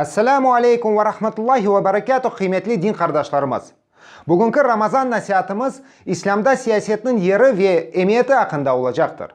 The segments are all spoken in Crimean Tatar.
Esselamu aleykum ve rahmetullahi ve berekâtuh, qıymetli din qardaşlarımız! Bugünki Ramazan nasiatımız İslâmda siyasetniñ yeri ve emiyeti aqqında olacaqtır.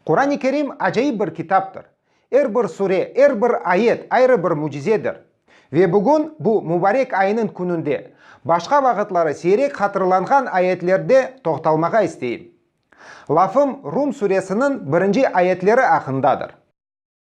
Quran-ı Kerim acayip bir kitaptır. Er bir sure, er bir ayet ayrı bir mücizedir. Ve bugün bu mubarek ayınıñ kününde, başqa vaqıtları seyrek hatırlanğan ayetlerde toqtalmağa isteyim. Lafım Rum suresiniñ birinci ayetleri aqqındadır.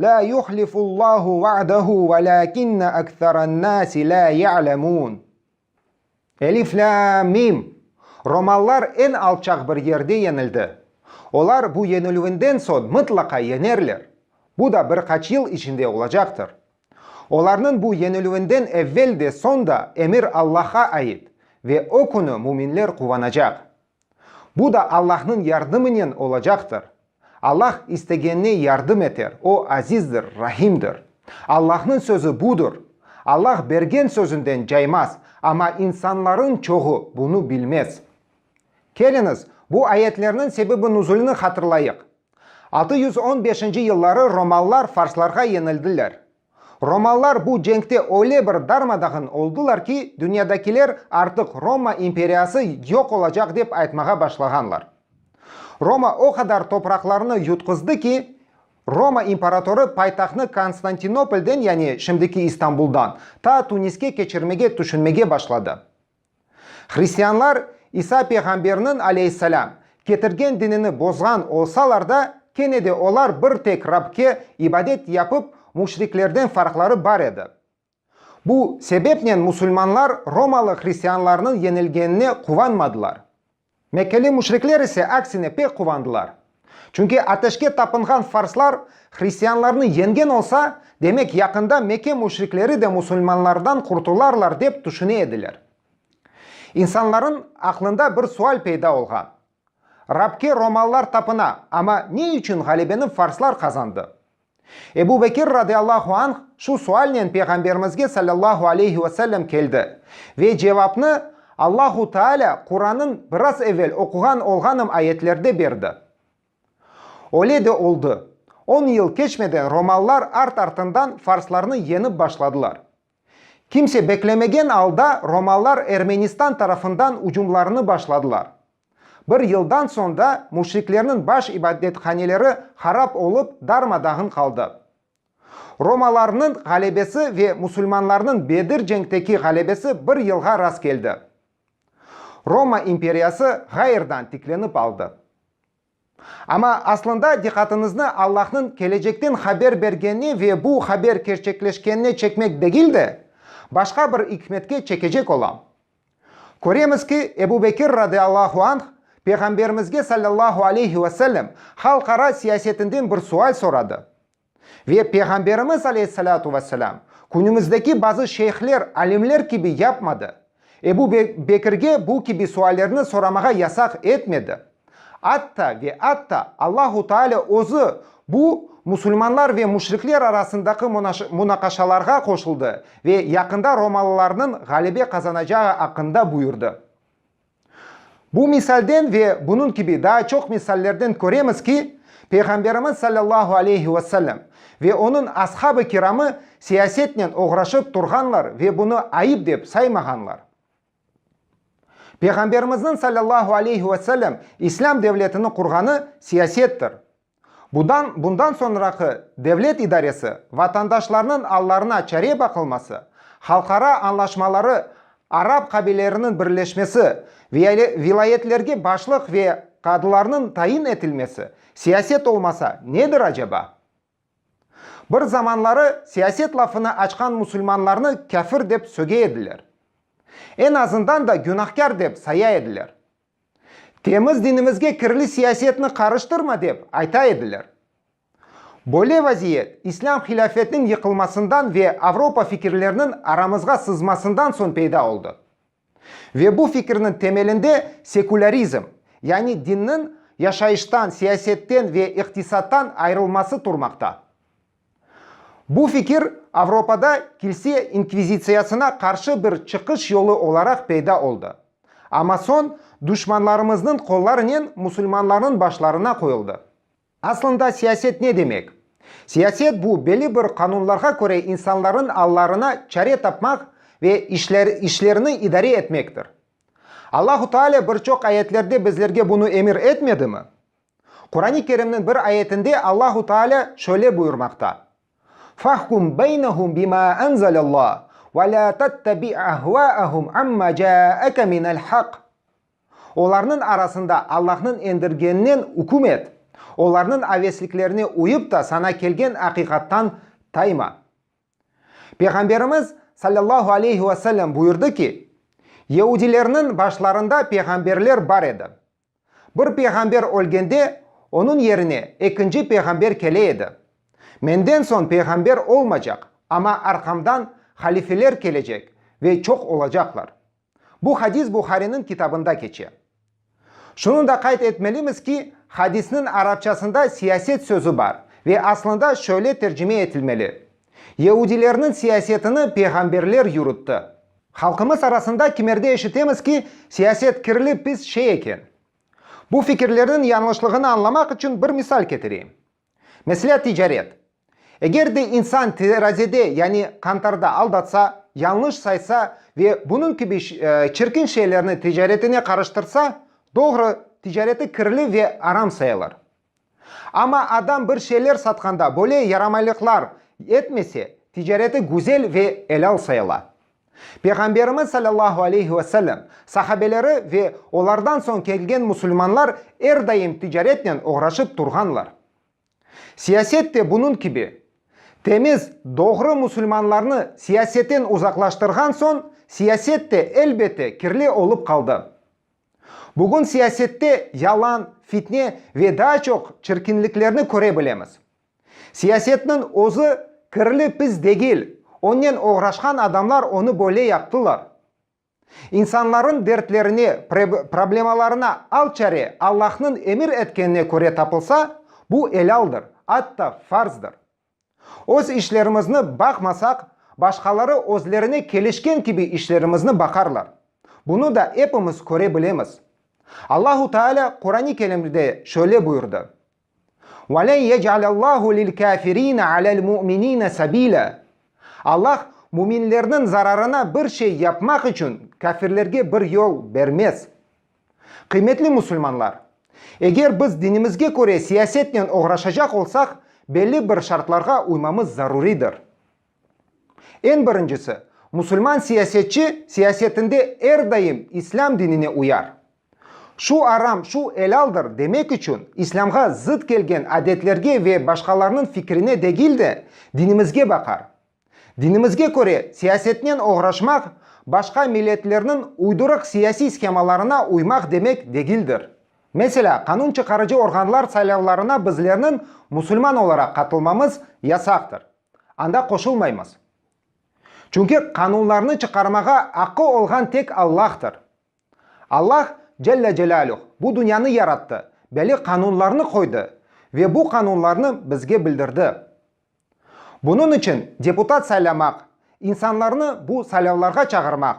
La yuhlifullahu va'dehu velâkinne ekserennâsi lâ ya'lemûn. Elif, lâm, mim. Romalılar eñ alçaq bir yerde yeñildi. Olar bu yeñilüvinden soñ mıtlaqa yeñerler. Bu da bir qaç yıl içinde olacaqtır. Olarnıñ bu yeñilüvinden evvel de soñ da emir Allahqa ait, ve o künü müminler quvanacaq. Bu da Allahnıñ yardımınen olacaqtır. Allah istegenine yardım eter, O azizdir, rahimdir. Allahnıñ sözü budır. Allah bergen sözünden caymaz, amma insanlarıñ çoğu bunı bilmez. Keliñiz, bu ayetlerniñ sebebi nuzulini hatırlayıq. Altı yüz on beşinci yılları romalılar farslarğa yenildiler. Romalılar bu cenkte öyle bir darma-dağın oldılar ki, dünyadakiler artıq Roma imperiyası yoq olacaq dep aytmağa başlağanlar. Roma o qadar topraqlarnı yutqızdı ki, Roma imparatorı paytahtnı Konstantinopolden, yani şimdiki İstanbuldan, ta Tuniske keçirmege tüşünmege başladı. Hristianlar İsa peyğamberniñ, aleyhisselâm, ketirgen dinini bozğan olsalar da, kene de olar bir tek Rabke ibadet yapıp, müşriklerden farqları bar edi. Bu sebepnen musulmanlar romalı hristianlarnıñ yenilgenine quvanmadılar. Mekkeli müşrikler ise aksine pek quvandılar. Çünki ateşke tapınğan farslar hristianlarnı yengen olsa, demek yaqında Mekke müşrikleri de musulmanlardan qurtularlar dep tüşüne ediler. İnsanların aqlında bir sual peyda olğan, Rabke romallar tapına, ama ne içün ğalebeni farslar qazandı? Ebu Bekir radıyallahu anh şu sualnen Peyğamberimizge sallallahu aleyhi ve sellem keldi ve cevapnı Allahu Teala Qurannıñ biraz evel oquğan olğanım ayetlerde berdi. Öyle de oldı. On yıl keçmeden romalılar art-artından farslarnı yeñip başladılar. Kimse beklemegen alda romalılar Ermenistan tarafından ucumlarını başladılar. Bir yıldan soñ da müşriklerniñ baş ibadethaneleri harap olıp, darma-dağın qaldı. Romalarnıñ ğalebesi ve musulmanlarnıñ Bedir cenkteki ğalebesi bir yılğa rast keldi. Roma imperiyası ğayrdan tiklenip aldı. Amma aslında diqqatıñıznı Allahnıñ kelecekten haber bergenine ve bu haber kerçekleşkenine çekmek degil de, başqa bir ikmetke çekecek olam. Köremiz ki, Ebu Bekir radiallahu anh Peyğamberimizge sallallahu aleyhi ve sellem halqara siyasetinden bir sual soradı. Ve Peyğamberimiz aleyhissalâtu ve selâm, künümizdeki bazı şeyhler, alimler kibi yapmadı. Ebu Bekirge bu kibi suallerni soramağa yasaq etmedi. Atta ve atta Allahu Teala Özü bu musulmanlar ve müşrikler arasındaki munaqaşalarğa qoşuldı ve yaqında romalılarnıñ ğalebe qazanacağı aqqında buyurdı. Bu misalden ve bunıñ kibi daa çoq misallerden köremiz ki, Peyğamberimiz sallallahu aleyhi ve sellem ve onıñ ashab-ı kiramı siyasetnen oğraşıp turğanlar ve bunı ayıp dep saymağanlar. Peyğamberimizniñ sallallahu aleyhi ve sellem İslâm devletini qurğanı siyasettir. Budan bundan soñraki devlet idaresi vatandaşlarnıñ allarına çare baqılması, halqara añlaşmaları, arap qabileleriniñ birleşmesi, viale vilayetlerge başlıq ve qadılarnıñ tayin etilmesi siyaset olmasa nedir aceba? Bir zamanları siyaset lafını açqan musulmanlarnı kâfir dep söge ediler. Eñ azından da günahkâr dep saya ediler. Temiz dinimizge kirli siyasetni qarıştırma dep ayta ediler. Böyle vaziyet İslâm hilâfetiniñ yıqılmasından ve Avropa fikirleriniñ aramızğa sızmasından soñ peyda oldı. Ve bu fikirniñ temelinde sekulârizm, yani dinniñ yaşayıştan, siyasetten ve iqtisattan ayrılması turmaqta. Bu fikir Avropada kilse inkvizitsiyasına qarşı bir çıqış yolu olaraq peyda oldı. Amma soñ duşmanlarımıznıñ qollarınen musulmanlarnıñ başlarına qoyuldı. Aslında siyaset ne demek? Siyaset bu belli bir qanunlarğa köre insanlarnıñ allarına çare tapmaq ve işler işlerini idare etmektir. Allahu Taala bir çoq ayetlerde bizlerge bunı emir etmedimi? Qurani Kerimniñ bir ayetinde Allahu Taalâ şöyle buyurmaqta, Fahkum beynehum bima enzelallah ve la tettabi' ahvaahum amma caake minel haq. Olarnıñ arasında Allahnıñ endirgeninen üküm et, olarnıñ avesliklerine uyıp da saña kelgen aqiqattan tayma. Peyğamberimiz, sallallahu aleyhi ve sellem, buyurdı ki, Yeudilerniñ başlarında peyğamberler bar edi. Bir peyğamber ölgende, onıñ yerine ekinci peyğamber kele edi. Menden soñ peyğamber olmacaq, amma arqamdan halifeler kelecek ve çoq olacaqlar. Bu hadis Buhariniñ kitabında keçe. Şunı da qayd etmelimiz ki, hadisniñ arapçasında siyaset sözü bar ve aslında şöyle tercime etilmeli, Yeudilerniñ siyasetini peyğamberler yürütti. Halqımız arasında kimerde eşitemiz ki, siyaset kirli, pis şey eken. Bu fikirlerniñ yañlışlığını añlamaq içün bir misal ketireyim. Meselâ, ticaret. Eger de insan terazide, yani qantarda aldatsa, yañlış saysa ve bunıñ kibi çirkin şeylerni ticaretine qarıştırsa, doğru, ticareti kirli ve aram sayılır. Amma adam bir şeyler satqanda böyle yaramaylıqlar etmese, ticareti güzel ve elâl sayıla. Peyğamberimiz sallallahu aleyhi ve sellem, sahabeleri ve olardan soñ kelgen musulmanlar er daim ticaretnen oğraşıp turğanlar. Siyaset de bunıñ kibi. Temiz, doğru musulmanlarnı siyasetten uzaqlaştırğan soñ, siyaset de, elbette, kirli olıp qaldı. Bugün siyasette yalan, fitne ve daa çoq çirkinliklerni köre bilemiz. Siyasetniñ özü kirli pis degil, onnen oğraşqan adamlar onı böyle yaptılar. İnsanlarnıñ dertlerine, problemalarına al çare Allahnıñ emir etkenine köre tapılsa, bu elaldır, atta farzdır. Öz işlerimizni baqmasaq, başqaları özlerine kelişken kibi işlerimizni baqarlar. Bunı da epimiz köre bilemiz. Allahu Taalâ Qurani Kerimde şöyle buyurdı, Ve len yec'alellahu lil-kâfirîne alel-mu'minîne sabîlâ, Allah müminlerniñ zararına bir şey yapmaq içün kâfirlerge bir yol bermez. Qıymetli musulmanlar! Eger biz dinimizge köre siyasetnen oğraşacaq olsaq, belli bir şartlarğa uymamız zaruridir. Eñ birincisi, musulman siyasetçi siyasetinde er daim İslâm dinine uyar. Şu aram, şu elaldır demek içün İslâmğa zıt kelgen adetlerge ve başqalarnıñ fikrine degil de, dinimizge baqar. Dinimizge köre, siyasetnen oğraşmaq, başqa milletlerniñ uydurıq siyasiy shemalarına uymaq demek degildir. Meselâ, qanun çıqarıcı organlar saylavlarına bizlerniñ musulman olaraq qatılmamız yasaqtır, anda qoşulmaymız. Çünki qanunlarnı çıqarmağa aqqı olğan tek Allahdır. Allah, Celle Celâluh, bu dünyanı yarattı, belli qanunlarnı qoydı ve bu qanunlarnı bizge bildirdi. Bunıñ içün deputat saylamaq, insanlarnı bu saylavlarğa çağırmaq,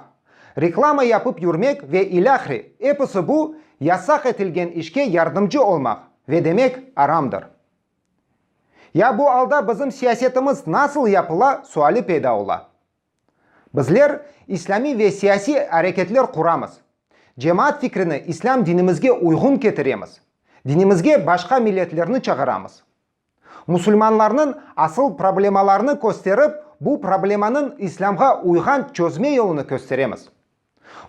reklama yapıp yürmek ve ilâhre, episi bu, yasaq etilgen işke yardımcı olmaq ve demek aramdır. Ya bu alda bizim siyasetimiz nasıl yapıla suali peyda ola. Bizler islâmiy ve siyasiy areketler quramız, cemaat fikrini islâm dinimizge uyğun ketiremiz, dinimizge başqa milletlerni çağıramız. Musulmanlarnıñ asıl problemalarını kösterip, bu problemanıñ İslâmğa uyğan çözme yolunı kösteremiz.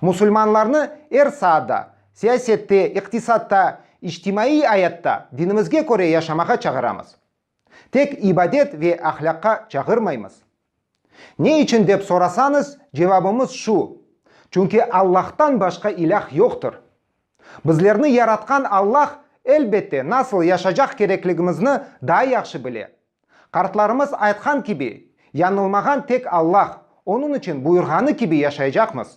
Musulmanlarnı er saatda, siyasette, iqtisatta, içtimaiy ayatta dinimizge köre yaşamağa çağıramız. Tek ibadet ve ahlâqqa çağırmaymız. Ne içün dep sorasañız, cevabımız şu, çünki Allahtan başqa ilâh yoqtır. Bizlerni yaratqan Allah, elbette, nasıl yaşacaq kerekligimizni daa yahşı bile. Qartlarımız aytqan kibi, yañılmağan tek Allah, onıñ içün buyurğanı kibi yaşaycaqmız.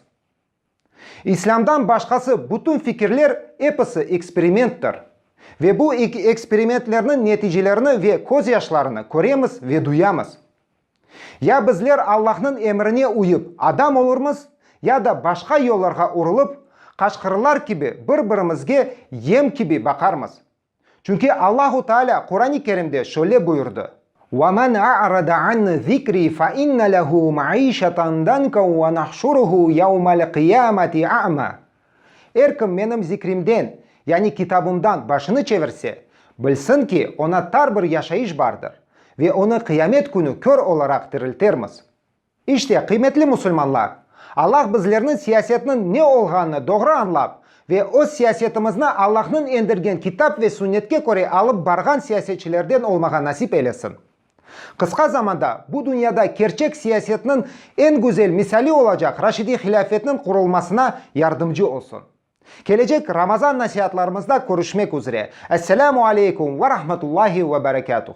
İslâmdan başqası bütün fikirler episi eksperimenttir. Ve bu eksperimentlerniñ neticelerini ve közyaşlarını köremiz ve duyamız. Ya bizler Allahnıñ emrine uyıp adam olurmız, ya da başqa yollarğa urılıp, qaçqırlar kibi bir-birimizge yem kibi baqarmız. Çünki Allahu Taalâ Quran-ı Kerimde şöyle buyurdı. Ve men a'rade an zikri fe inne lehu maişeten danka ve nahşuruhu yevmel qiyameti a'ma. Er kim menim zikrimden, yani Kitabımdan başını çevirse, bilsin ki, oña tar bir yaşayış bardır, ve onı Qıyamet künü kör olaraq diriltermiz. İşte, qıymetli musulmanlar, Allah bizlerni siyasetniñ ne olğanını doğru añlap ve öz siyasetimizni Allahnıñ endirgen Kitap ve Sünnetke köre alıp barğan siyasetçilerden olmağa nasip eylesin. Qısqa zamanda bu dünyada kerçek siyasetniñ eñ güzel misali olacaq Raşidiy hilâfetniñ qurulmasına yardımcı olsun. Kelecek Ramazan nasiatlarımızda körüşmek üzre. Esselamu aleykum ve rahmetullahi ve berekâtuh.